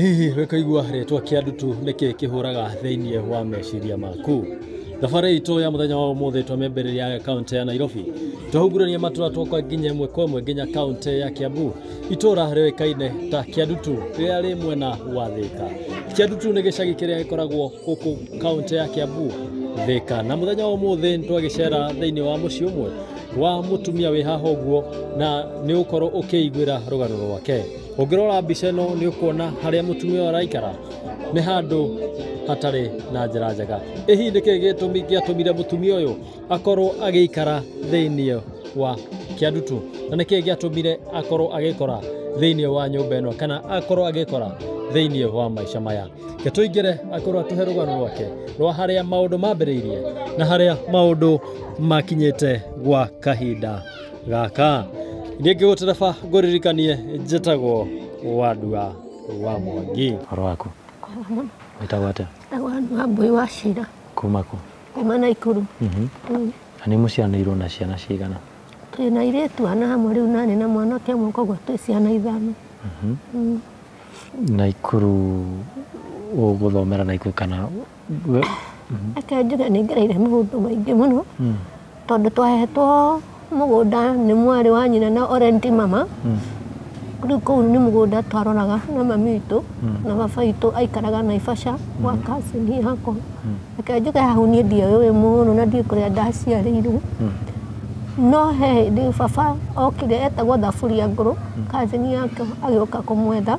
Hihi wĩkaigua rĩtwa kĩa ndutu nĩkĩ kĩhũraga thĩinĩ wa meciria maku? Thabarĩ itũ ya mũthenya wa ũmũthĩ twamĩambĩrĩria kaunti ya Nairobi twahungurania matũra twoka nginya ĩmwe kwa ĩmwe nginya kaunti ya Kiambu itũra rĩũĩkaine ta Kĩandutu rĩrĩa rĩ mwena wa Thĩka. Kĩandutu nĩ gĩcagi kĩrĩa gĩkoragwo gũkũ kaunti ya Kiambu Thĩka na mũthenya wa ũmũthĩ nĩ twagĩcera thĩinĩ wa mũciĩ ũmwe wa mũtumia wĩ haha ũguo na nĩ ũgũkorwo ũkĩiguĩra rũgano rwake. Ũngĩrora mbica ĩno nĩ ũkuona harĩa mũtumia ũyũ araikara nĩ handũ hatarĩ na njĩra njega. Ĩ hihi nĩ kĩĩ gĩtũmi gĩatũmire mũtumia ũyũ akorwo agĩikara thĩinĩ wa kĩandutu? Na nĩ kĩĩ gĩatũmire akorwo agĩkora thĩinĩ wa nyũmba ĩno kana akorwo agĩkora thĩinĩ wa maica maya? Reke tũingĩre akorwo atũhe rũgano rwake rwa harĩa maũndũ mambĩrĩirie na harĩa maũndũ makinyĩte gwa kahinda. gaka rĩngĩ gũtereba ngũririkanie njĩtagwo wandua wa mwangi Ũhoro waku? Wĩtagwo atĩa? Agwani wa mbũi wa cira Kuma kũ? kuma na ikuru Mhm. Mm. Na nĩ mũciaranĩirwo na ciana cigana? twĩ na irĩtu ana hamwe rĩu nani na mwanake ũmwe koguo twĩ ciana ithano Mhm. Mm. Na ikuru ũgũthomera na ikuru kana reke njuge nĩ ngereire maũndũ maingĩ mũno tondũ twahetwo mũgũnda nĩ mwarĩ wa nyina na orenti mama rĩu kũu nĩ mũgũnda twaroraga na mami witũ na baba witũ aikaraga Naivasha gwa cousin yakwa. Reke njuge hau niĩ ndiũĩ mũno na ndiũĩ kũrĩa ndaciarĩirwo no he hĩndĩ baba okire etagwo Thaburia Ngũrũ cousin yake agĩũka kũmwetha,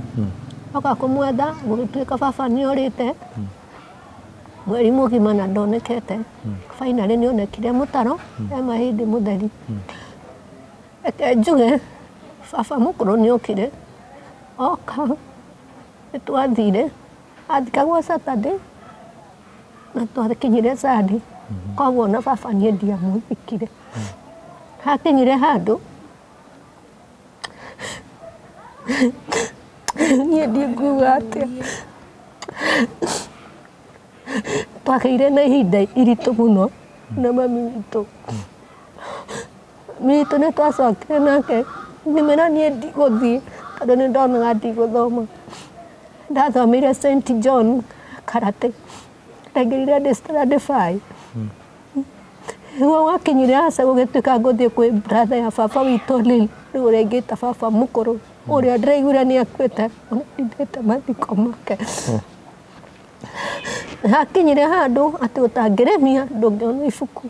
oka kũmwetha gũgĩtuĩka baba nĩ orĩte. Mweri mũgima na ndonekete. Finally nĩ onekire mũtaro he mahĩndĩ mũtheri. Reke njuge baba mũkũrũ nĩ okire, oka nĩ twathire, athikagwo Saturday na twakinyire Sunday. Koguo ona baba niĩ ndiamũthikire. Hakinyire handũ... niĩ ndinguga atĩa twagĩire na ihinda iritũ mũno na mami witũ mami witũ nĩ twacokire nake ngĩmwĩra niĩ ndigũthiĩ tondũ nĩ ndonaga ndigũthoma ndathomeire St John karate ndaingĩrire ndĩ standard five Nĩguo gwakinyire aca gũgĩtuĩka ngũthiĩ kwĩ brother ya baba witũ Lily, rĩu ũrĩa ingĩta baba mũkũrũ, ũrĩa ndĩraiguire nĩ akuĩte, ona ndindĩte mathiko make. Hakinyire handũ atĩ ũtangĩrĩmia ndũngĩona ibuku.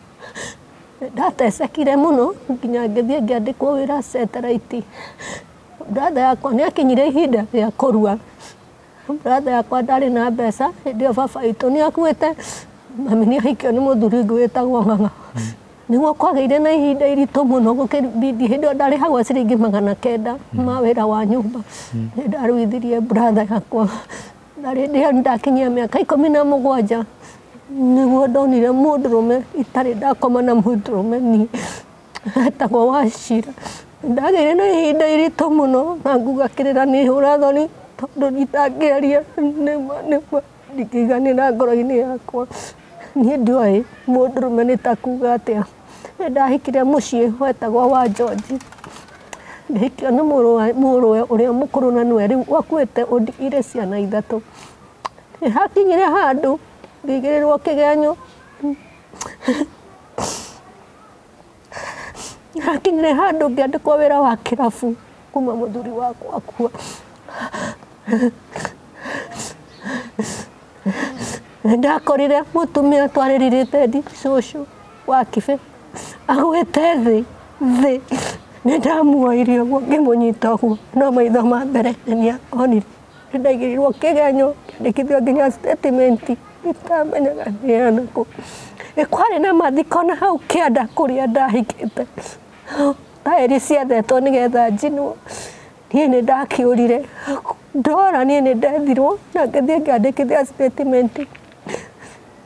Nĩ ndatecekire mũno nginya ngĩthiĩ ngĩandĩkwo wĩra Satellite. Brother yakwa nĩ akinyire ihinda rĩa kũrua. brother yakwa ndarĩ na mbeca hĩndĩ ĩyo baba witũ nĩ akuĩte mami nĩ ahikio nĩ mũthuri ngũ wĩtagwo ng'ang'a nĩguo kwagĩire na ihinda iritũ mũno gũkĩbindi hĩndĩ ĩyo ndarĩhagwo ciringi magana kenda ma wĩra wa nyũmba nĩ ndaruithirie brother yakwa na rĩndĩ ĩyo nĩ ndakinyia mĩaka ikũmi na mũgwanja nĩguo ndonire mũndũrũme itarĩ ndakoma na mũndũrũme niĩ etagwo Wachira. Ndagĩire na ihinda iritũ mũno na nguga kĩrĩra nĩ hũra thoni tondũ nditangĩaria nĩma nĩma ndingĩiganĩra ngoro-inĩ yakwa. Niĩ ndioĩ mũndũrũme nĩ ta kuga atĩa. Nĩ ndahikire mũciĩ wetagwo wa George. Ngĩhikio nĩ mũrũwe ũrĩa mũkũrũ na nĩwe rĩu ũkuĩte ũndigĩire ciana ithatũ. Nĩ hakinyire handũ ngĩigĩrĩrwo kĩgenyo. Hakinyire handũ ngĩandĩkwo wĩra wa kĩrabu kuma mũthuri wakwa akua. Nĩndakorire mũtumia twarĩrĩrĩte ndi cũcũ wa kĩbe agwĩte thĩ thĩ nĩndamuoire ũguo ngĩmũnyita ũguo no maitho ma mbere nĩnĩa onire. Nĩ ndaigĩrĩirwo kĩgenyo, ngĩandĩkithio nginya statement, itamenyaga nĩ ya nũkũ. Nĩ kwarĩ na mathiko na hau kĩanda kũrĩa ndahikĩte. Thaĩri ciethetwo nĩgetha njinwo. Niĩ nĩ ndakĩũrire. Ndora niĩ nĩ ndethirwo na ngĩthiĩ ngĩandĩkithia statement.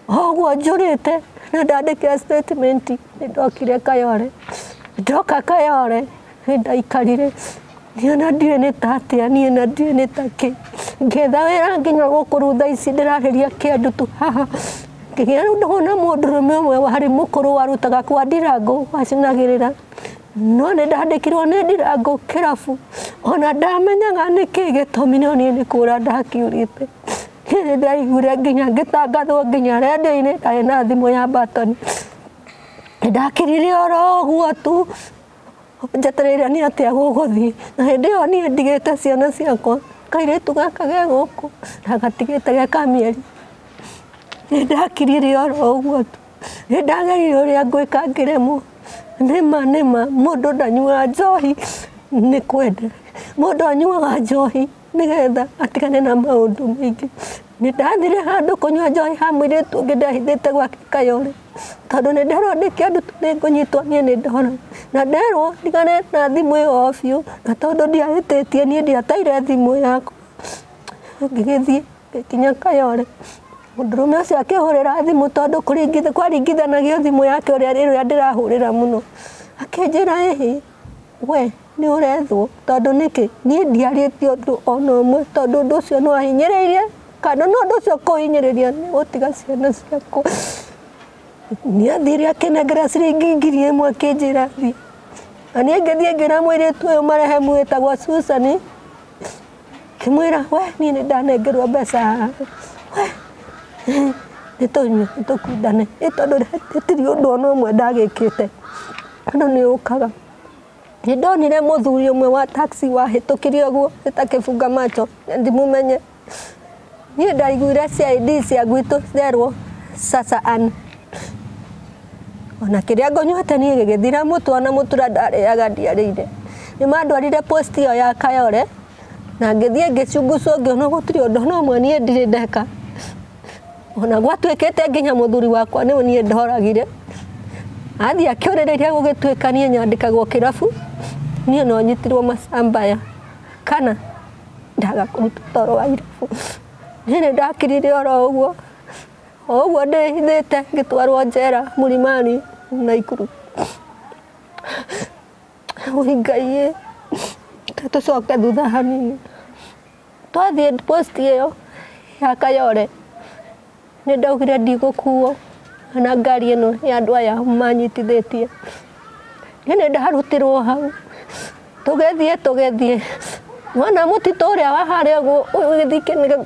Oguo njũrĩte na ndandĩkĩra statement nĩ ndokire Kayole. Ndoka Kayole nĩ ndaikarire niĩ na ndiũĩ nĩ ta atĩa niĩ na ndiũĩ nĩ ta kĩ ngetha wĩra nginya gũkũ rĩu thaa ici ndĩrarĩria kĩandu tu haha ngĩgĩa rĩu ndona mũndũrũme ũmwe warĩ mũkũrũ warutaga kwa ndirangũ wacinagĩrĩra no nĩ ndandĩkirwo nĩ ndirangũ kĩrabu ona ndamenyaga nĩkĩ gĩtũmi no niĩ nĩ kũra ndakiurĩte Hĩndĩ ndaiguire nginya ngĩtangathwo nginya rĩendio-inĩ ndarĩ na thimũ ya batoni. Ndakirire oro ũguo tu njetereire nĩ atĩa gũgũthiĩ. Na hĩndĩ ĩyo niĩ ndigĩte ciana ciakwa kairĩtu gaka ge gũkũ ndagatigĩte ge ka mĩeri. Nĩ ndakirire oro ũguo tu. Nĩ ndagereire ũrĩa ngwĩka ngĩremwo. Nĩ ma nĩ ma mũndũ ndanyuaga njohi nĩ kwenda. Mũndũ anyuaga njohi... nĩgetha atigane na maũndũ maingĩ nĩ ndathire handũ kũnyua njohi ha mwĩrĩtu ũngĩ ndehithĩte gwake kayore tondũ nĩ nderwo ndĩkĩandũ nĩ ngũnyitwo niĩ nĩ ndora na nderwo ndigane na thimũ ĩyo biũ na tondũ ndiahĩtĩtie niĩ ndiateire thimũ yakwa ngĩgĩthiĩ ngĩkinya kayore mũndũrũme ũcio akĩhũrĩra thimũ tondũ kwaringithanagio thimũ yake ũrĩa ĩrĩa ndĩrahũrĩra mũno akĩnjĩra ĩhĩ We nĩ ũrethwo tondũ nĩkĩ niĩ ndiarĩtie ũndũ ona ũmwe tondũ ũndũ ũcio nĩ wahinyĩrĩirie kana nĩ ũndũ ũcio kũhinyĩrĩria nĩ gũtiga ciana ciakwa nĩ athire akĩnengera ciringi ngiri ĩmwe akĩnjĩra thiĩ na niĩ ngĩthiĩ ngĩra mũirĩtu ũyũ marehe mwĩtagwa Susan kĩmwĩra we niĩ nĩ ndanengerwo mbeca we nĩ tũnyue nĩ tũkundane ĩ tondũ hatirĩ ũndũ ona ũmwe ndagĩkĩte andũ nĩ ũkaga nĩ ndonire mũthuri ũmwe wa taxi wahĩtũkire ũguo ĩtakĩbunga macho ndimumenye Niĩ ndaiguire CID cia gwitũ therwo Sasa Ann. Ona kĩrĩa ngũnyuĩte niĩ gĩgĩthira mũtu ona mũtura ndarĩaga ndiarĩire. Nĩ mandwarire post ĩyo ya Kayore na ngĩthiĩ ngĩcungucwo ngĩona gũtirĩ ũndũ no ũmwe niĩ ndirĩ ndeka. Ona gwatuĩkĩte nginya mũthuri wakwa nĩwe niĩ ndoragire. Athiĩ akĩũrĩrĩria gũgĩtuĩka niĩ nyandĩkagwo kĩrabu niĩ no nyitirwo macambaya kana ndaga kũruta toro wa irabu nĩ nĩ ndakirire oro ũguo o ũguo ndĩhithĩte ngĩtwarwo njera mũrimani na ikuru ũi ngaiĩ tũcoke thutha hanini twathiĩ post ĩyo ya kayore Nĩ ndaugire ndigũkuo na ngari ĩno ya andũ aya manyitithĩtie. Niĩ nĩ ndarutirwo hau tũgĩthiĩ tũgĩthiĩ wona mũtitũ ũrĩa wa harĩa ũgĩthiĩ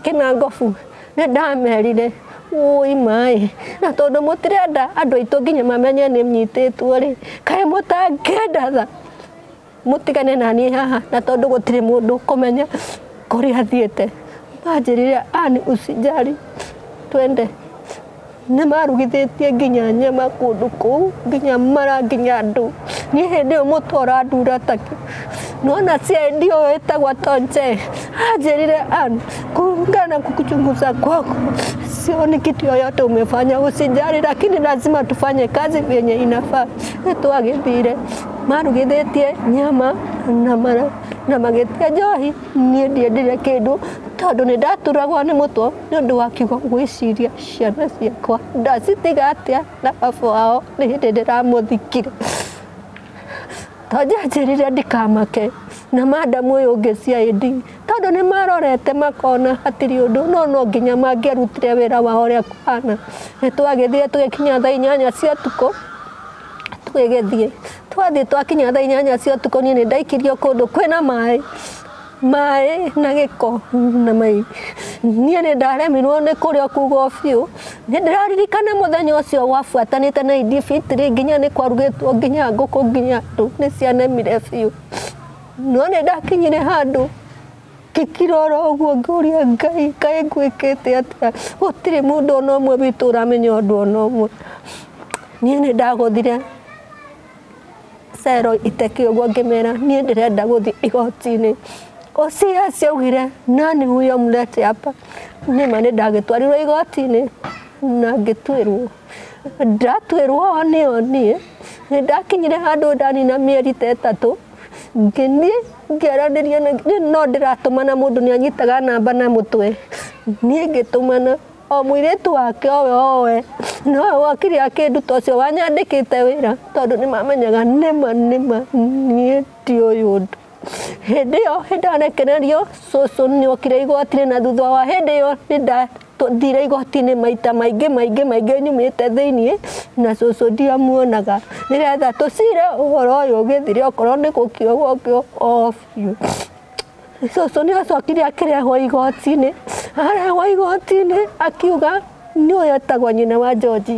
kĩnangobu nĩ ndamerire wũi maĩ na tondũ mũtirenda andũ aitũ nginya mamenye nĩ nyitĩtwo rĩ kaĩ mũtangĩndatha. mũtigane na niĩ haha na tondũ gũtirĩ mũndũ ũkũmenya kũrĩa athiĩte. Manjĩrire ani usijali twende. Nĩ marugithĩtie nginya nyama kũndũ kũu nginya mara nginya andũ. Niĩ hĩndĩ ĩyo mũtwe ũrandura takĩ. Nona CID ũyũ wĩtagwa Tonje anjĩrire ani kulingana na kuchunguza kwako sioni kitu yoyote umefanya, usijali, lakini lazima tufanye kazi vyenye inafaa. Nĩ twagĩthire marugithĩtie nyama na mara na magĩtia njohi niĩ ndiendire kĩndũ tondũ nĩ ndaturagwo nĩ mũtwe nĩ ũndũ wa kiugo gwĩciria ciana ciakwa ndacitiga atĩa na baba wao nĩ hĩndĩ ndĩramũthikire to njanjĩrire ndikamake na madamu ũyũ ũngĩ CID tondũ nĩ marorete makona hatirĩ ũndũ no no nginya mangĩarutire wĩra wao ũrĩa kũhana nĩ twagĩthire tũgĩkinya thaa inyanya cia tukũ tũgĩgĩthiĩ twathiĩ twakinya thaa inyanya cia ũtukũ niĩ nĩ ndaikirio kũndũ kwĩna maĩ maĩ na gĩko na mai niĩ nĩ ndaremirwo nĩ kũrĩa kugo biũ nĩ ndĩraririkana mũthenya ũcio wabuatanĩte na idi fitri nginya nĩ kwarugĩtwo nginya ngũkũ nginya andũ nĩ cianemire biũ no nĩ ndakinyire handũ ngĩkirora ũguo ngĩũria ngai kaĩ ngwĩkĩte atĩa gũtirĩ mũndũ ona ũmwe witũ ũramenya ũndũ ona ũmwe niĩ nĩ ndagũthire cero iteke ũguo ngĩmera niĩ ndĩrenda gũthiĩ igoti-inĩ Osia augire nani huyo mlete hapa nĩma nĩ ndagĩtwarirwo igoti-inĩ na ngĩtuĩrwo ndatuĩrwo o nĩo niĩ nĩ ndakinyire handũ ndanina mĩeri ta ĩtatũ ngĩthiĩ ngĩaranĩria na no ndĩratũmana mũndũ nĩ anyitaga namba na mũtwe niĩ ngĩtũmana o mũirĩtu wake owe owe nowe wakire akĩnduta ũcio wanyandĩkĩte wĩra tondũ nĩ mamenyaga nĩma nĩma niĩ ti ũyũ ũndũ hĩndĩ ĩyo nĩ ndarekererio cũcũ nĩ okire igoti-inĩ na thutha wa hĩndĩ ĩyo nĩ tũthire igoti-inĩ maita maingĩ maingĩ maingĩ nyumĩte thĩiniĩ na cũcũ ndiamuonaga nĩgetha tũcire ũhoro ũyũ ũgĩthire okorwo nĩ gũkio gũkio o biũ. Cũcũ nĩ acokire akĩrehwo igoti-inĩ, arehwo igoti-inĩ akiuga nĩũyũ etagwo nyina wa George.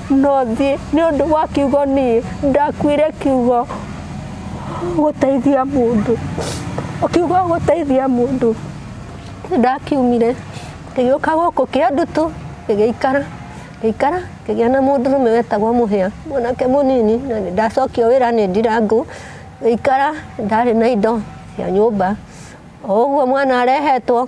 no thiĩ nĩ ũndũ wa kiugo niĩ ndakuire kiugo gũteithia mũndũ kiugo gũteithia mũndũ ndakiumire ngĩgĩũka gũkũ kĩa ndutũ ngĩgĩikara ngĩikara ngĩgĩa na mũndũ rũme wetagwo mũhĩa mwanake mũnini na nĩ ndacokio wĩra nĩ ndirangũ ngĩikara ndarĩ na indo cia nyũmba o ũguo mwana arehetwo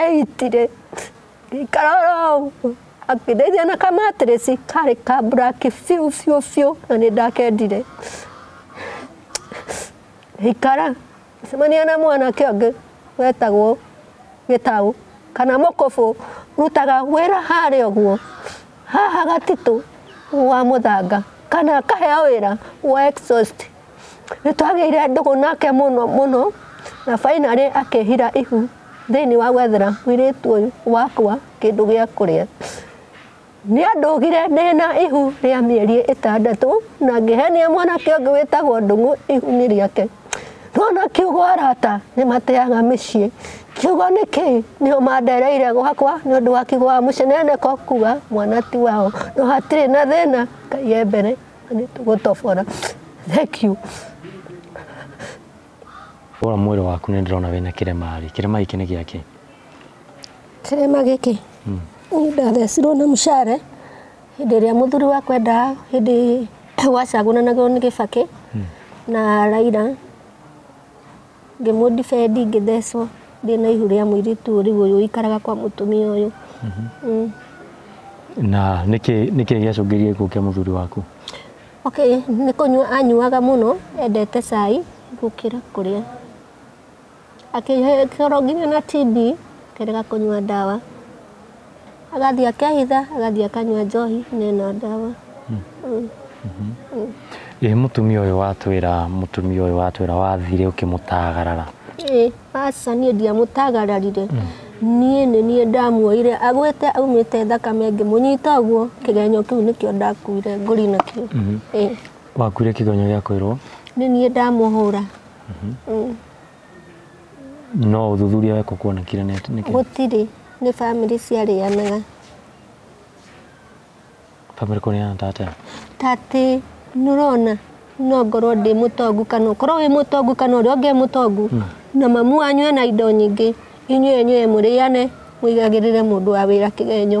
eyitire ngĩikara oro ũguo akĩndeithia na kamatirĩci karĩ ka black biũ biũ biũ na nĩ ndakendire ngĩikara ngĩcemania na mwanake ũngĩ wetagwo gĩtaũ kana mũkũbũ rutaga wĩra harĩa ũguo haha gatitũ wa mũthanga kana akaheo wĩra wa exhaust Nĩ twagĩire ndũgũ nake mũno mũno, na fainarĩ akĩhira ihu thĩinĩ wa gwethera mwĩrĩtu ũyũ wakwa kĩndũ gĩa kũrĩa. Nĩ andũgire ndĩna ihu rĩa mĩeri ĩtandatũ na ngĩhenia mwanake ũngĩ wĩtagwo ndũgũ ihu-inĩ rĩake. Ndona kiugo arata nĩ mateaga mĩciĩ. Kiugo nĩ kĩĩ? Nĩo mandereire gwakwa nĩ ũndũ wa kiugo wa mũceneneko kuga mwana ti wao. No hatirĩ na thĩna, Ngai e mbere. What of honor? Thank you. Wora mwĩrĩ waku nĩ ndĩrona wĩna kĩrema rĩ. Kĩrema gĩkĩ nĩ gĩakĩ? Kĩrema gĩkĩ? Hmm. Nĩ ndathecirwo na mũcare hĩndĩ ĩrĩa mũthuri wa kwenda hĩndĩ wacagũranagwo nĩ gĩbakĩ hmm. na Raila ngĩmũ defend ngĩthecwo ndĩ na ihu rĩa mũirĩtu ũyũ rĩu ũyũ ũikaraga kwa mũtumia ũyũ Mm. na nĩkĩ nĩkĩ gĩacũngĩrĩirie gĩkuũ kĩa mũthuri waku okay nĩ kũnyua anyuaga mũno endete cai gũkĩra kũrĩa akĩkorwo nginya na TB kerega kũnyua ndawa agathiĩ akehitha agathiĩ akanyua njohi na ĩno ndawa ĩ mũtumia ũyũ watwĩra mũtumia ũyũ watwĩra wathire ũkĩmũtagarara ĩ aca niĩ ndiamũtagararire niĩ nĩ niĩ ndamuoire agwĩte aumĩte thakame ngĩmũnyita ũguo kĩgenyo kĩu nĩkĩo ndakuire ngũri nakĩo ĩ wakuire kĩgonyo gĩa kũirwo nĩ niĩ ndamũhũra Mm. no ũthuthuria wekwo kuona kĩrĩa nĩ nĩ kĩĩ gũtirĩ nĩ bamĩrĩ ciarĩanaga bamĩrĩ kũrĩana ta atĩa ta atĩ nĩũrona no ngorwo ndĩ mũtongu kana ũkorwo wĩ mũtongu kana ũrĩa ũngĩ e mũtongu na mamu wanyu ena indo nyingĩ inyuĩ enyuĩ mũrĩane mũigagĩrĩre mũndũ wa wĩra kĩgenyo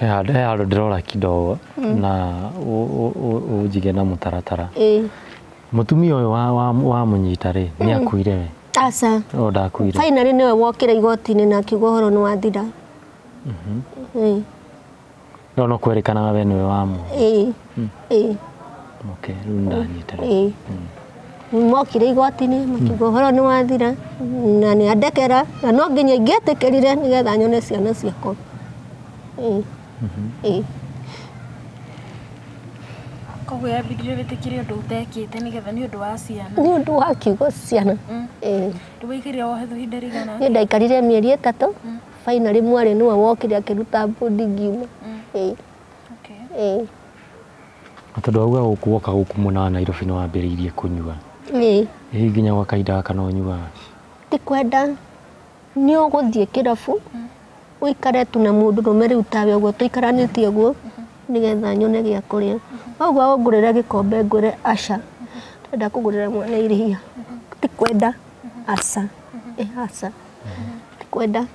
He handũ he handũ ndĩrora kidogo na ũ- ũ- ũ- ũnjige na mũtaratara Eh. mũtumia ũyũ wa- wa- wamũnyita rĩ nĩ akuire we Aca. o ndakuire Finally nĩwe wokire igoti-inĩ na akiuga ũhoro nĩ wathira. Eh. no no kwerĩkanaga we nĩwe wamu Eh. ĩĩ Okay, rĩu ndanyita rĩu. ĩĩ mokire igoti-inĩ makiuga ũhoro nĩ wathira na nĩ andekera na no nginya ingĩetĩkĩrire nĩgetha nyone ciana ciakwa ĩĩ ĩĩ koguo yambindire wĩtĩkĩre ũndũ ũtekĩte nĩgetha nĩ ũndũ wa ciana nĩ ũndũ wa kiugo ciana ĩĩ ndũgĩikire wohetho ihinda rĩigana niĩ ndaikarire mĩeri ĩtatũ bainarĩ mwarĩ nĩwe wokire akĩruta mbundi ngiuma ĩĩ Okay. Ĩĩ. Na tondũ wauga gũkũ woka gũkũ mwena wa Nairobi nĩ wambĩrĩirie kũnyua. Ĩĩ. Ĩĩ nginya gwa kahinda gaka no ũnyuaga. Ti kwenda nĩ ũgũthiĩ kĩrabu ũikare tu na mũndũ rũme rĩu tawe ũguo tũikaranĩtie ũguo nĩgetha nyone gĩa kũrĩa. Wauga ũngũrĩre gĩkombe ngwĩre aca ndĩrenda kũgũrĩra mwana iria. Ti kwenda aca. Ĩĩ aca. Ti kwenda.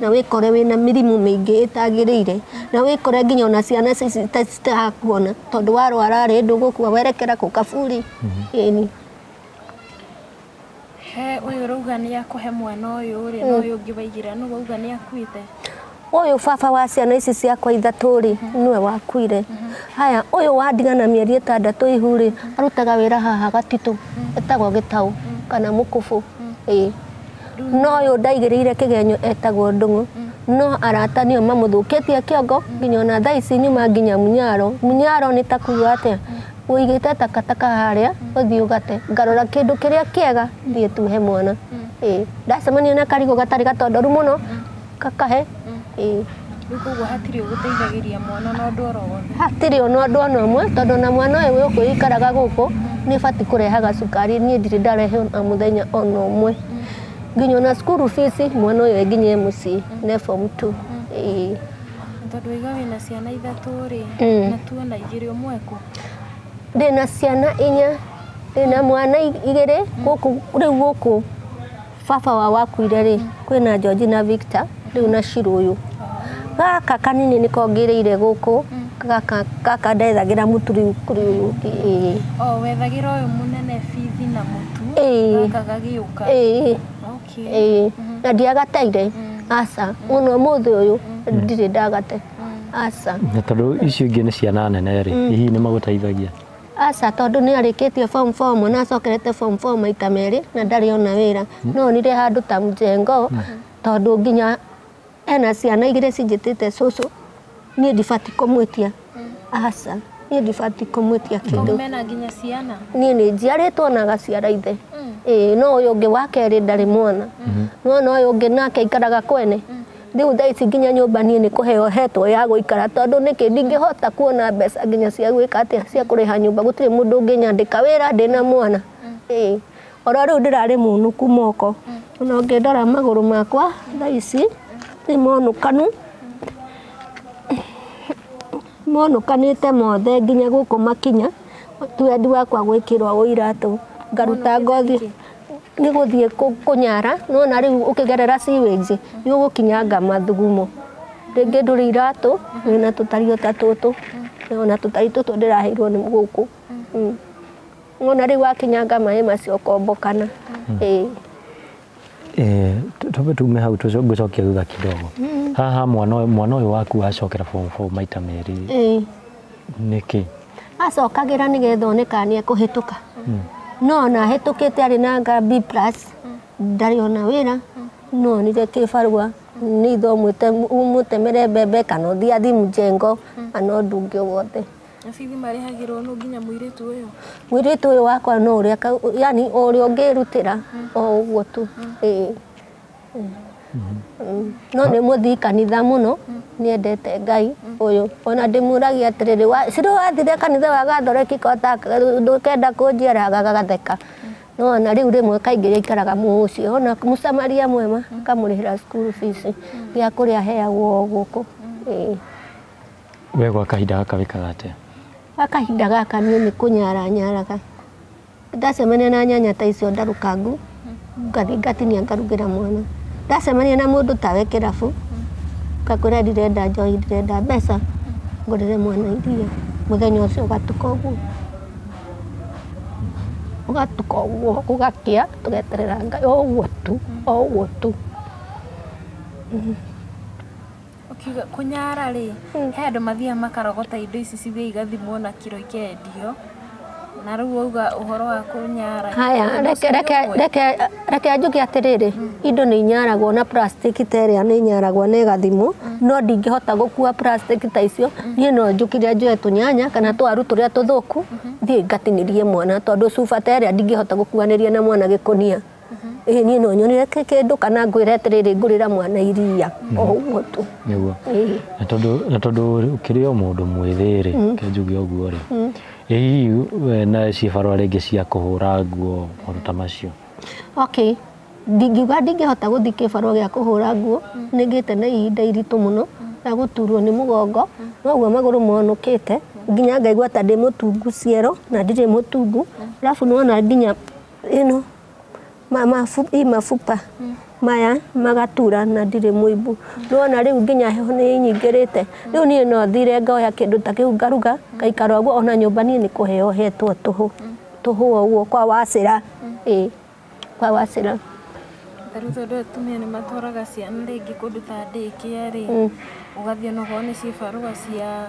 na wĩkore wĩna mĩrimũ mĩingĩ ĩtagĩrĩire na wĩkore nginya ona ciana citakuona tondũ warwara rĩ ndũgũkua werekera kũ kaburi ĩni he ũyũ ũrauga nĩ akũhe mwana ũyũ rĩ na ũyũ ũngĩ waigĩra nũ wauga nĩ akuĩte ũyũ baba wa ciana ici ciakwa ithatũ rĩ nĩwe wakuire haya ũyũ wandigana mĩeri ĩtandatũ ihu rĩ arutaga wĩra haha gatitũ etagwo gĩtaũ kana mũkũbũ ĩĩ no ũyũ ndaigĩrĩire kĩgenyo etagwo ndũng'ũ no arata nĩo mamũthũkĩtie kĩongo nginya ona thaa ici nyuma nginya munyaro munyaro nĩ ta kuga atĩa ũigĩte takataka harĩa ũthiĩ ũgate ngarora kĩndũ kĩrĩa kĩega thiĩ tuhe mwana Ĩĩ, ndacemania na karigũ gatarĩ gatondoru mũno kakahe ĩĩ Rĩu koguo hatirĩ ũgũteithagĩria mwana na ũndũ oro wothe. hatirĩ ona ũndũ ona ũmwe tondũ na mwana ũyũ gũkũ ikaraga gũkũ nĩ batiĩ kũrehaga cukari niĩ ndirĩ ndarehe ona mũthenya ona ũmwe nginya ona cukuru fees mwana ũyũ e nginya e mũciĩ ne form two ĩĩ Na Tondũ waiga wĩna ciana ithatũ rĩ, Mm. na tu ona igĩrĩ ũmwe kũ? ndĩna ciana inya ndĩna mwana i- igĩrĩ gũkũ rĩu gũkũ baba wa wakuire rĩ kwĩna George na Victor rĩu na Shiro ũyũ gaka kanini niko ngĩrĩire gũkũ gaka gaka ndethagĩra mũtu rĩu kũrĩ ũyũ ũngĩ ĩĩ Oh, wethagĩra ũyũ mũnene bithi na mũtu Ĩĩ. gaka gagĩũka ĩĩ okay. ĩĩ na ndiagataire aca mũno ũmũthĩ ũyũ ndirĩ ndagate aca na tondå icio ingä nä ciana nene rä hihi nä magå teithagia Aca tondũ nĩ arĩkĩtie form 4 mwana acokerete form 4 maita merĩ na ndarĩ ona wĩra no onire handũ ta mjengo tondũ nginya ena ciana igĩrĩ cinjĩtĩte cũcũ niĩ ndibatiĩ kũmwĩtia aca niĩ ndibatiĩ kũmwĩtia kĩndũ Tondũ mena nginya ciana. niĩ nĩ njiarĩtwo na agaciara ithe ĩĩ no ũyũ ũngĩ wa kerĩ ndarĩ mwana nona ũyũ ũngĩ nake aikaraga kwene Rĩu thaa ici nginya nyũmba niĩ nĩ kũheo hetwo ya gũikara tondũ nĩkĩ ndingĩhota kuona mbeca nginya cia gwĩka atĩa cia kũrĩha nyũmba gũtirĩ mũndũ ũngĩnyandĩka wĩra ndĩ na mwana ĩĩ oro rĩu ndĩrarĩ mũnuku moko ona ũngĩndora magũrũ makwa thaa ici nĩ monũkanu monũkanĩte mothe nginya gũkũ makinya twendi wakwa gwĩkĩrwo ũiratũ ngaruta ngothi nĩ gũthiĩ kũ- kũnyara nona rĩu ũkĩgerera sewage nĩ ũgũkinyanga mathugumo rĩngĩ ndũrĩ iratũ wĩna tũtario ta tũtũ ona tũtari tũtũ ndĩraheirwo nĩ gũkũ Mm. nona rĩu wakinyanga maĩ macio ũkombokana Ĩĩ. Eh, tu- twambe tume hau tũco- ngũcokia thutha kidogo haha mwana ũyũ- mwana ũyũ waku wacokera form four maita merĩ Ĩĩ. nĩkĩ acokagĩra nĩgetha one kana nĩ ekũhĩtũka no ona ahĩtũkĩte arĩ na nga B plus ndarĩ ona wĩra no onire kĩbarua nĩ ithe ũmwĩte- ũmũtemere mbembe kana ũthiĩ athi mjengo kana ũndũ ũngĩ o wothe Na bithi marĩhagĩrwo nũ nginya mũirĩtu ũyũ mũirĩtu ũyũ wakwa no ũrĩa ka- yani o ũrĩa ũngĩrutĩra o ũguo tu ĩĩ no nĩ mũthii kanitha mũno nĩendete ngai ũyũ ona ndĩmũragia atĩrĩrĩ wa- cirĩ wathire kanitha wa gathoreki kota ndũkenda kũnjĩra gagatheka no ona rĩu rĩmwe kaingĩ gĩikaraga mũũ ũcio ona mũsamaria mwema akamũrĩhĩra school fees gĩa kũrĩa aheagwo o gũkũ Ĩĩ. we gwa kahinda gaka wĩkaga atĩa gwa kahinda gaka niĩ nĩ kũnyaranyaraga ndacemania na nyanya ta icio ndarũkangu ngathiĩ ngatinia ngarugĩra mwana ndacemania na mũndũ tawe kĩrabu ngakwĩra ndirenda njohi ndirenda mbeca ngũrĩre mwana irio mũthenya ũcio ũgatuka ũguo ũgatuka ũguo gũgakĩa tũgeterera Ngai o ũguo tu o ũguo tu. Ũkiuga kũnyara rĩ, he andũ mathiaga makarogota indo ici cithiaga igathimwo na kiro ikendio. Na rĩu wauga ũhoro wa kũnyara. Haya, ũndũ reke, ũcio nĩ reke, ũmwe. reke, reke njuge atĩrĩrĩ, indo nĩ inyaragwo na plastic ta ĩrĩa nĩ inyaragwo na ĩgathimwo, no ndingĩhota gũkua plastic ta icio, niĩ no njũkire njoe tũnyanya kana twaru tũrĩa tũthũku, thiĩ ngatinĩrie mwana, tondũ cuba ta ĩrĩa ndingĩhota gũkuanĩria na mwana gĩkũnia. ĩĩ niĩ no nyonire kĩ- kĩndũ kana ngwĩre atĩrĩrĩ ngũrĩra mwana iria o ũguo tu nĩguo Ĩĩ. na tondũ na tondũ ũkĩrĩ o mũndũ mwĩthĩ rĩ kenjuge ũguo rĩ ĩ hihi we na cibarũa rĩngĩ cia kũhũra nguo maũndũ ta macio okay ndingiuga ndingĩhota gũthiĩ kĩbarũa gĩa kũhũra nguo nĩngĩte na ihinda iritũ mũno rĩa gũturwo nĩ mũgongo noguo magũrũ monũkĩte nginya ngaigua ta ndĩ mũtungu ciero na ndirĩ mũtungu arabu nĩwona nginya you know, ma- mafu- i mafupa maya magatura na ndirĩ mũimbu nĩwona rĩu nginya heho nĩ nyingĩrĩte rĩu niĩ no thire ngoya kĩndũ ta kĩu ngaruga ngaikara ũguo ona nyũmba niĩ nĩ kũheo hetwo tũhũ tũhũ o ũguo kwa wacĩra ĩ kwa wacĩra Ta rĩu tondũ atumia nĩ matwaraga ciana rĩngĩ kũndũ ta ndĩkia rĩ, ũgathiĩ onokorwo nĩ cibarũa cia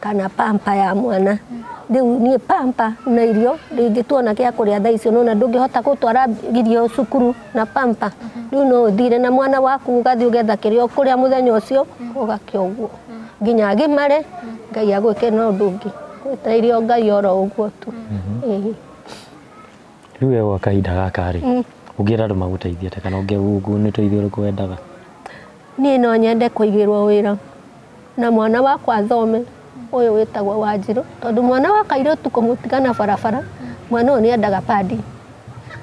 kana pampa ya mwana riu nie pampa na irio ringi tuona gia kuria thaa icio nona ndungihota gutwara irio cukuru na pampa riu no uthire na mwana waku ugathi ugetha kiria ukuria muthenya ucio ugakia uguo nginya agimare ngai agwike na undu ungi gwetairio ngai oro uguo tu Ĩĩ. rĩu we gwa kahinda gaka rĩ ũngĩra andũ magũteithie atĩa kana ũngĩungu nĩ ũteithio ũrĩkũ wendaga niä no nyende kå igä rwo wä ra na mwana wakwa athome ũyũ wĩtagwo Wanjirũ tondũ mwana wa kairĩtu kũmũtiga na barabara mwana ũyũ nĩendaga padi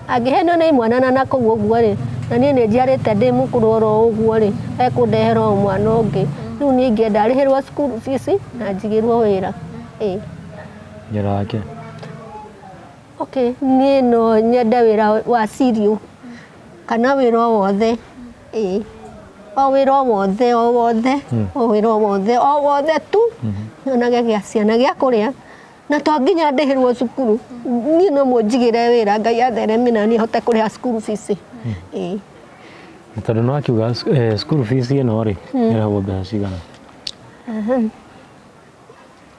angĩhenio nĩ mwana na nakũu ũguo rĩ na niĩ nĩ njiarĩte ndĩ mũkũrũ oro ũguo rĩ ekũndehera o mwana ũngĩ rĩu niĩ ingĩenda arĩhĩrwo cukuru fees na njigĩrwo wĩra ĩĩ Wĩra wake. okay niĩ no nyende wĩra wa cereal kana wĩra o wothe ĩĩ o wĩra o wothe o wothe o wĩra o wothe o wothe tu nyonage gĩa ciana gĩa kũrĩa na to nginya ndĩhĩrwo cukuru niĩ no mũnjigĩre wĩra ngai athereme na niĩ hote kũrĩha cukuru bici ĩĩ Na tondũ nĩ wakiuga sc- eh, school fees ĩno rĩ ĩrĩhagwo mbeca cigana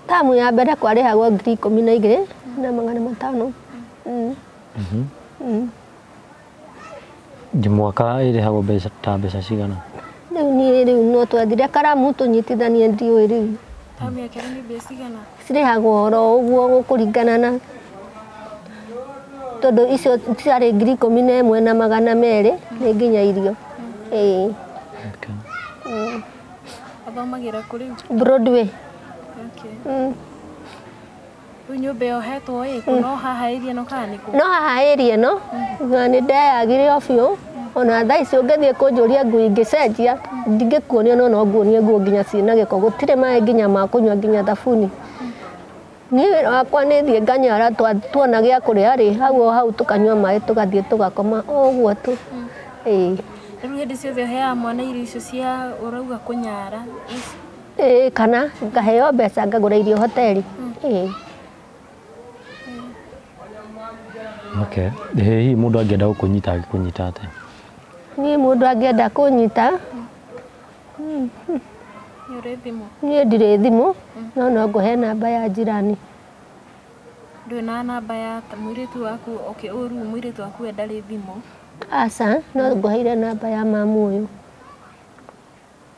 tamu ya mbere kwarĩhagwo ngiri ikũmi na igĩrĩ na magana matano Mm. Ngi mwaka ĩrĩhagwo mbeca ta mbeca cigana? Rĩu niĩ rĩu no twathire karamu tũnyitithanie ndiũĩ rĩu. Tamu ya kerĩ nĩ mbeca cigana? Cirĩhagwo oro ũguo gũkũringana na tondũ icio ciarĩ ngiri ikũmi na ĩmwe na magana merĩ nĩ nginya irio. Ĩĩ. Athomagĩra kũ rĩu? Broadway. Okay. Mm. Rĩu nyũmba ĩyo hetwo ĩ, kũ no haha area ĩno kana nĩ kũ? no haha area ĩno na nĩ ndeyagire o biũ ona thaa ici ũngĩthiĩ kũnjũria nguo ingĩcenjia ndingĩkuonia no no nguonie nguo nginya ciĩna gĩko gũtirĩ maĩ nginya ma kũnyua nginya thabuni niĩ wakwa nĩ thiĩ nganyara twa- tuona gĩa kũrĩa rĩ hau o hau tũkanyua maĩ tũgathiĩ tũgakoma o ũguo tu ĩĩ Rĩu hĩndĩ ciothe ũheaga mwana irio icio cia ũrauga kũnyara, ĩĩ kana ngaheo mbeca ngagũra irio hoteli ĩĩ Okay. Ĩ hihi mũndũ angĩenda gũkũnyita angĩkũnyita atĩa? niĩ mũndũ angĩenda kũnyita Nĩ ũrĩ thimũ? niĩ ndirĩ thimũ no no ngũhe namba ya njirani Ndũrĩ na namba ya ta- mũirĩtu waku okay, ũru mũirĩtu waku we ndarĩ thimũ. aca no ngũheire namba ya mamu ũyũ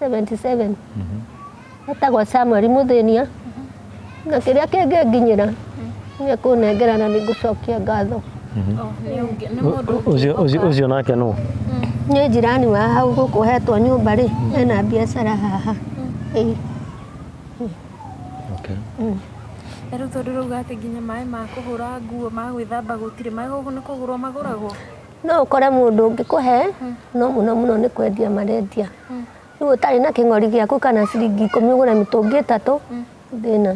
77 etagwo samuel mũthĩnia na kĩrĩa kĩngĩnginyĩra nĩ kũnengera na nĩngũcokia ngatho Ũcio- ũcio- ũcio nake nũ nĩ njirani wa hau gũkũ hetwo nyũmba rĩ ena biacara haha Ĩĩ. okay. Rĩu tondũ rauga atĩ nginya maĩ ma kũhũra nguo ma gwĩthamba gũtirĩ maĩ gũkũ nĩ kũgũrwo magũragwo no ũkore mũndũ ũngĩkũhe no mũno mũno nĩ kwendia marendia rĩu ũtarĩ na kĩng'ori gĩaku kana ciringi ikũmi ũgũre mĩtũngi ĩtatũ thĩna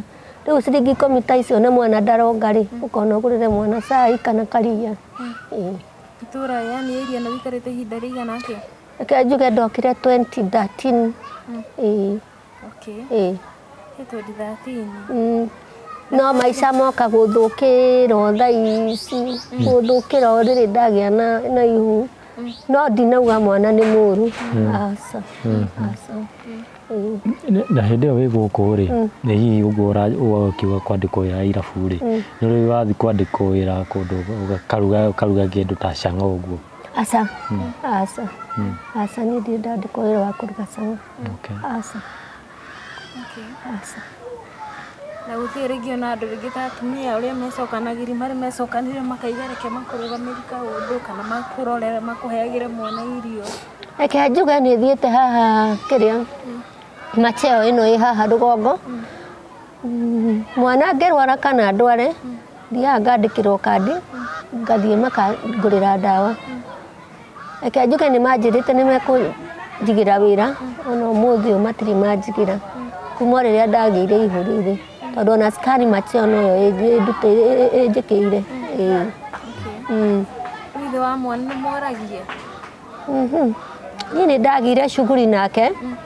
rĩu ciringi ikũmi ta icio na mwana ndaronga rĩ ũkona ũgũrĩre mwana cai kana karia Ĩĩ. itũra yani area ĩno wĩikarĩte ihinda rĩigana atĩa reke njuge ndokire 2013 Ĩĩ. Okay. Ĩĩ. He 2013. Mm. No maica moka gũthũkĩra o thaa ici gũthũkĩra o rĩrĩ ndagĩa na na ihu no ndinauga mwana nĩ mũru aca aca Ĩĩ. N- na hĩndĩ ĩyo wĩ gũkũ rĩ nĩ hihi ũguo ũra- ũguo ũkiuga kwandĩkwo wĩra irabu rĩ nĩ ũrĩ wathiĩ kwandĩkwo wĩra kũndũ ũga- ũkaruga ũkaruga kĩndũ ta canga ũguo aca aca aca niĩ ndirĩ ndandĩkwo wĩra wa kũruga cama Okay. Aca. Aca. Na gũtirĩ rĩngĩ ona andũ rĩngĩ ta atumia ũrĩa mecokanagĩri marĩ mecokanĩrĩra makaiga reke makũrũgamĩri kaũndũ kana makũrorera makũheagĩre mwana irio. Reke njuge nĩ thiĩte haha kĩrĩa macheo ĩno ĩ haha rũgongo Mm, mwana angĩrwara kana ndware thiaga ngandĩkĩrwo kandi ngathiĩ makangũrĩra ndawa Reke njuge nĩ manjĩrĩte nĩ mekũnjigĩra wĩra ona ũmũthĩ ũyũ matirĩ manjigĩra kuma o rĩrĩa ndagĩire ihũri rĩ tondũ ona scan matia ona ĩyo ĩnjĩ- ĩndute- ĩ- ĩ- ĩ- ĩnjĩkĩire ĩĩ. Mm. Ithe wa mwana nĩ moragie. Mhm. niĩ nĩ ndagĩire shughuli nake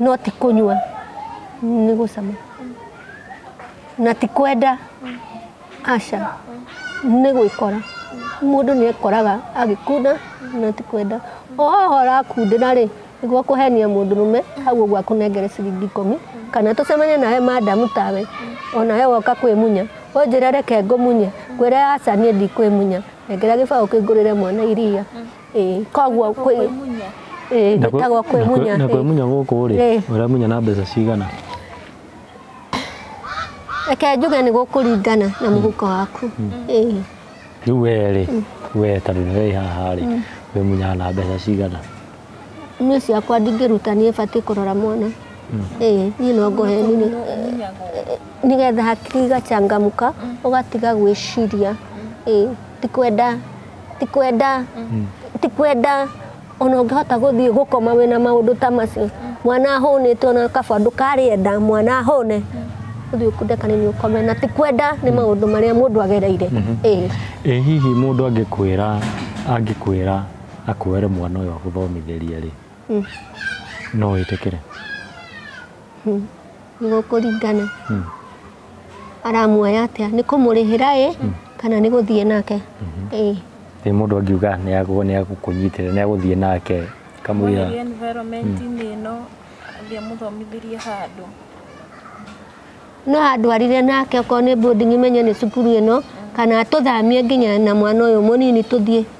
no ti kũnyua nĩ gũcama na ti kwenda aca nĩ gwĩkora mũndũ nĩ ekoraga agĩkunda na ti kwenda oho ũrakundĩra rĩ nĩguo kũhenia mũndũ rũme hau ũguo akũnengere ciringi ikũmi kana tũcemanie nawe madamu tawe onawe woka kwĩmunya ũnjĩre reke ngũmunye ngwĩre aca niĩ ndikwĩmunya nengera gĩbaũ kĩngũrĩre mwana iria Ĩĩ, koguo kwĩ Ĩĩ, Na kwĩ- gwĩtagwo na kwĩ- kwĩmunya na kwĩmunya gũkũ rĩ Ĩĩ. ũremunya na mbeca cigana reke njuge nĩ gũkũringana na mũhuko waku Ĩĩ. rĩu wee rĩ wee tondũ nĩ wĩ haha rĩ wĩmunyaga na mbeca cigana niĩ ciakwa ndingĩruta niĩ batiĩ kũrora mwana Ĩĩ, niĩ no ngohe nini nĩgetha hakiri igachangamuka ũgatiga gwĩciria Ĩĩ, ti kwenda ti kwenda ti kwenda ona ũngĩhota gũthiĩ gũkoma wĩna maũndũ ta macio mwana ahũnĩte ona kaba ndũkarĩenda mwana ahũne ũthiĩ ũkunde kanini ũkome na ti kwenda nĩ maũndũ marĩa mũndũ agereire ĩĩ ĩ hihi mũndũ angĩkwĩra angĩkwĩra akuoere mwana ũyũ agũthomithĩrie rĩ no wĩtĩkĩre Hmm. Nĩgũkũringana. Hmm. Aramuoya atĩa? Nĩ kũmũrĩhĩra ĩ hmm. kana nĩ gũthiĩ nake? Hmm. Ĩ. Ĩ mũndũ angiuga nĩ agũgũ nĩ agũkũnyitĩrĩra nĩ agũthiĩ nake kamũira. Mwĩrĩ environment hmm. ĩno athiĩ mũthomithĩrie handũ. No andwarire nake okorwo nĩ boarding menye nĩ cukuru ĩno kana tũthamie nginya na mwana ũyũ mũnini tũthiĩ.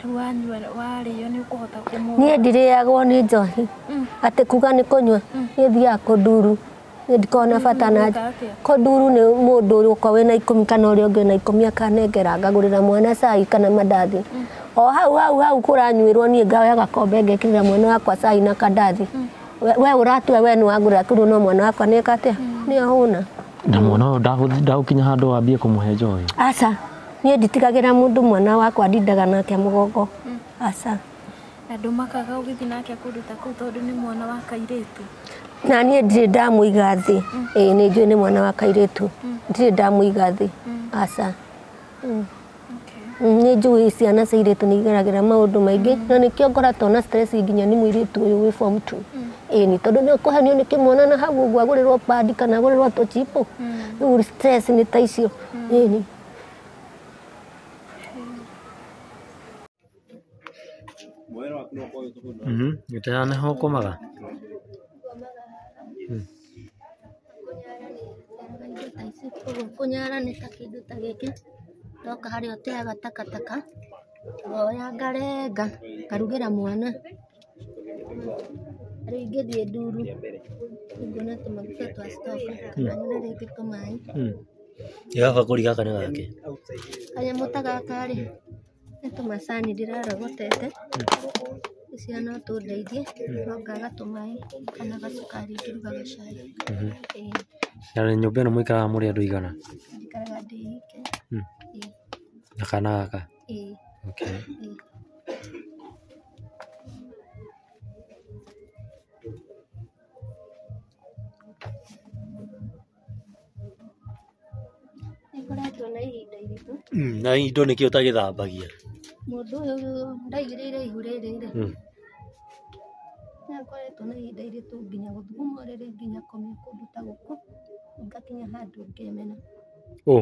Rĩu wanyua warĩo nĩ ũkũhota kũmũ. niĩ ndirĩagwo nĩ njohi atĩ kuga nĩ kũnyua nĩ thiaga kũnduru nĩ ndikoragwo na bata na Ũnyuaga atĩa? kũnduru nĩ mũndũ ũrĩa ũkoragwo wĩna ikũmi kana ũrĩa ũngĩ wĩna ikũmi akanengera ngagũrĩra mwana cai kana mandathi o hau hau hau kũranyuĩrwo niĩ ngoya gakombe ngekĩrĩra mwana wakwa cai na kandathi We- we ũratua we nĩ wagũrĩra kũndũ no mwana wakwa nĩ eka atĩa nĩ ahũna na mwana ũyũ ndagũkinya handũ wambie kũmũhe njohi aca Niĩ nditigagĩra mũndũ mwana wakwa ndindaga nake mũgongo aca. Andũ makaga ũgĩthiĩ nake kũndũ ta kũu tondũ nĩ mwana wa kairĩtu. Na niĩ ndirĩ ndamũiga thĩ. Mm. Ĩĩ nĩ njũĩ nĩ mwana wa kairĩtu. Mm. Ndirĩ ndamũiga thĩ. Mm. Aca. Nĩ njũĩ ciana cia irĩtu nĩ igeragĩra maũndũ maingĩ na nĩkĩo ngoratwo na stress nginya nĩ mũirĩtu ũyũ wĩ form two ĩni tondũ nĩ ũkũhenio nĩ kĩmwana na hau ũguo agũrĩrwo pandi kana agũrĩrwo tũchipo rĩu stress nĩ ta icio ĩni Mhm, gĩtĩ haha nĩho ũkomaga? Mm. Koguo kũnyara nĩ ta kĩndũ ta gĩkĩ, ndoka harĩa ũteaga takataka, ngoya ngarenga, ngarugĩra mwana. Rĩu ingĩthiĩ nduru ngone tũmaguta twa stock kana ngũre rĩngĩ tũmaĩ. Gaka gakũri gaka nĩ gakĩ? Kanyamũ ta gaka rĩ, nĩ tũmacani ndĩrarogotete, tũcio no tũndeithie, no ngaga tũmaĩ kana gacukari ngĩruga gacai. Ĩĩ. Na nyũmba ĩno mũikaraga mũrĩ andũ aigana? Njikaraga ndĩ ika. Na kana gaka? Eh. Okay. Eh. Nĩkoretwo na ihinda iritũ. Mm, na indo nĩkĩ ũtagĩthambagia Mũndũ ũyũ ndaigĩrĩire ihu rĩrĩ rĩ. Mm. Nĩakoretwo na ihinda iritũ nginya gũthuguma rĩrĩ nginya komia kũndũ ta gũkũ. Ngakinya handũ ngemena. Ũ.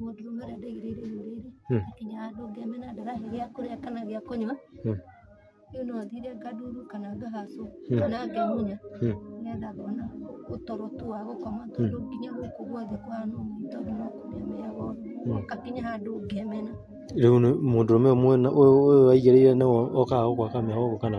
Mũndũ ũmwe ũrĩa ndaigĩrĩire irio rĩrĩ, Hmm. akinya handũ ngemena ndarahe gĩa kũrĩa kana gĩa kũnyua, Hmm. rĩu no thire nganduru kana ngahacwo Hmm. kana ngemunya Hmm. nĩgetha ngona ũtoro tu wa gũkoma tondũ nginya gũkũ guothe kũhana ũguo nĩ tondũ no kũmĩa mĩago ngakinya handũ ngemena Rĩu nĩ mũndũrũme ũmwe na- ũyũ ũyũ waigĩrĩire nĩwe okaga gũgwaka mĩago ũguo kana?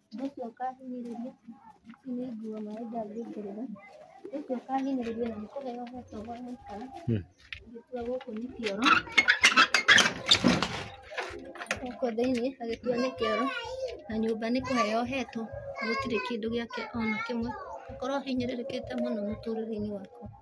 Joshua akahinyĩrĩria, ici nĩ nguo maĩ ndangĩkĩrĩra. Joshua akahinyĩrĩria na nĩkũheo hetwo gwa gũikara. Agĩtua gũkũ nĩ kĩoro. Gũkũ thĩinĩ agĩtua nĩ kĩoro na nyũmba nĩ kũheo hetwo, gũtirĩ kĩndũ gĩake ona kĩmwe. Akorwo ahinyĩrĩrĩkĩte mũno mũtũrĩre-inĩ wake.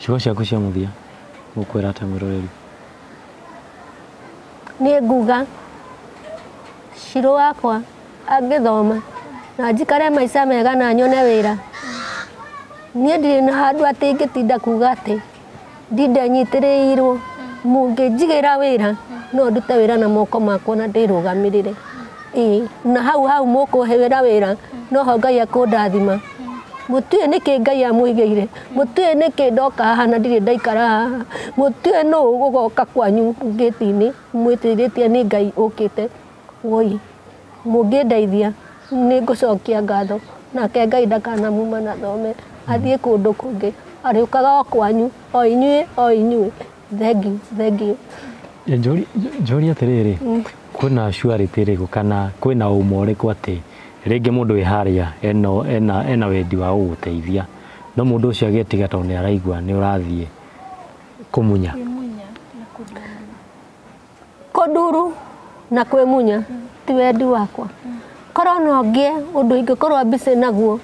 Ciugo ciaku cia mũthia gũkwĩra atĩa mwĩroreri? Niĩ nguga Shirũ wakwa angĩthoma na njikare maica mega na nyone wĩra, niĩ ndirĩ na handũ atĩ ingĩtinda kuga atĩ ndinde nyitĩrĩirwo. Mũngĩnjigĩra wĩra no ndute wĩra na moko makwa na ndĩrũgamĩrĩre. Ĩĩ, na hau hau mũkũhewĩra wĩra noho ngai akũndathima mũtiũĩ nĩkĩ ngai amũigĩire mũtiũĩ nĩkĩ ndoka haha na ndirĩ ndaikara haha mũtiũĩ nũ ũgoka kwanyu ngĩti-inĩ mwĩtĩrĩtie nĩ ngai ũkĩte woi mũngĩndeithia nĩ ngũcokia ngatho nake ngai ndakanamuma na thome athiĩ kũndũ kũngĩ arĩũkaga o kwanyu o inyuĩ o inyuĩ Thengiũ, thengiũ. Njũri- njũri atĩrĩrĩ kwĩna surety ĩrĩkũ kana kwĩna ũma ũrĩkũ atĩ rĩngĩ mũndũ wĩ harĩa ena, ena, ena wendi wa gũgũteithia no mũndũ ũcio agetiga tondũ nĩ araigua nĩ ũrathiĩ kũmunya Kũmunya na kũndũma. Kũnduru na kwĩmunya ti wendi wakwa. Korwo no ngĩe ũndũ ingĩkorwo busy naguo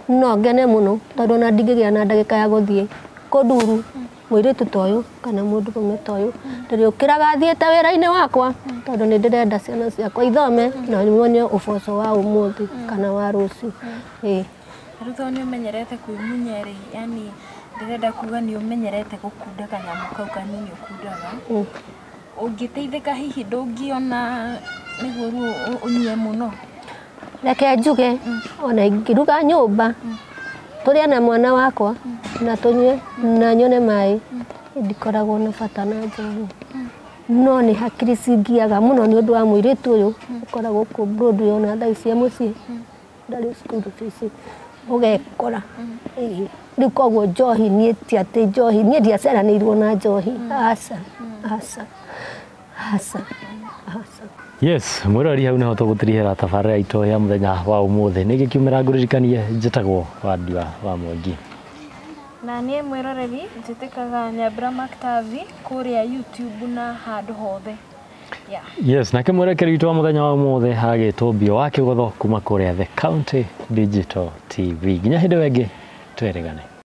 no ngene mũno tondũ ona ndingĩgĩa na ndagĩka ya gũthiĩ kũnduru mũirĩtu ta ũyũ kana mũndũrũme ta ũyũ. Ndĩrĩũkĩraga thiĩte wĩra-inĩ wakwa tondũ nĩ ndĩrenda ciana ciakwa ithome na nyone ũboco wa ũmũthĩ kana wa rũciũ. Ĩĩ. Rĩu tondũ nĩ ũmenyerete kwĩmunya rĩ, yani ndĩrenda kuga nĩ ũmenyerete gũkunda kanyamũ kau kanini ũkundaga. Ũngĩteithĩka hihi ndũngĩona nĩguo rĩu ũ- ũnyue mũno. reke njuge ona ingĩruga nyũmba tũrĩa na mwana wakwa na tũnyue na nyone maĩ ndikoragwo na bata na njohi no nĩ hakiri cingiaga mũno nĩ ũndũ wa mũirĩtu ũyũ ũkoragwo kũ- ndũndũ yona thaa ici e mũciĩ ndarĩ cukuru tũici ũgekora Ĩĩ. rĩu koguo njohi niĩ ti atĩ njohi niĩ ndiaceranĩirwo na njohi aca aca aca aca yes mwirori hau niho tũgũtirihĩra tabarĩra itũ ya mũthenya wa ũmũthĩ nĩ ngĩkiumĩra ngũririkanie njĩtagwo wandiwa wa mwangi na niĩ mwĩroreri njĩtĩkaga nyambura maktavi kũrĩa youtube na handũ hothe Yeah. Yes, nake mwerekeri witũ wa mũthenya wa ũmũthĩ agĩtwo mbio wa kĩgotho kuma kũrĩa The County Digital TV. Nginya hĩndĩ ĩyo ĩngĩ twerĩgane.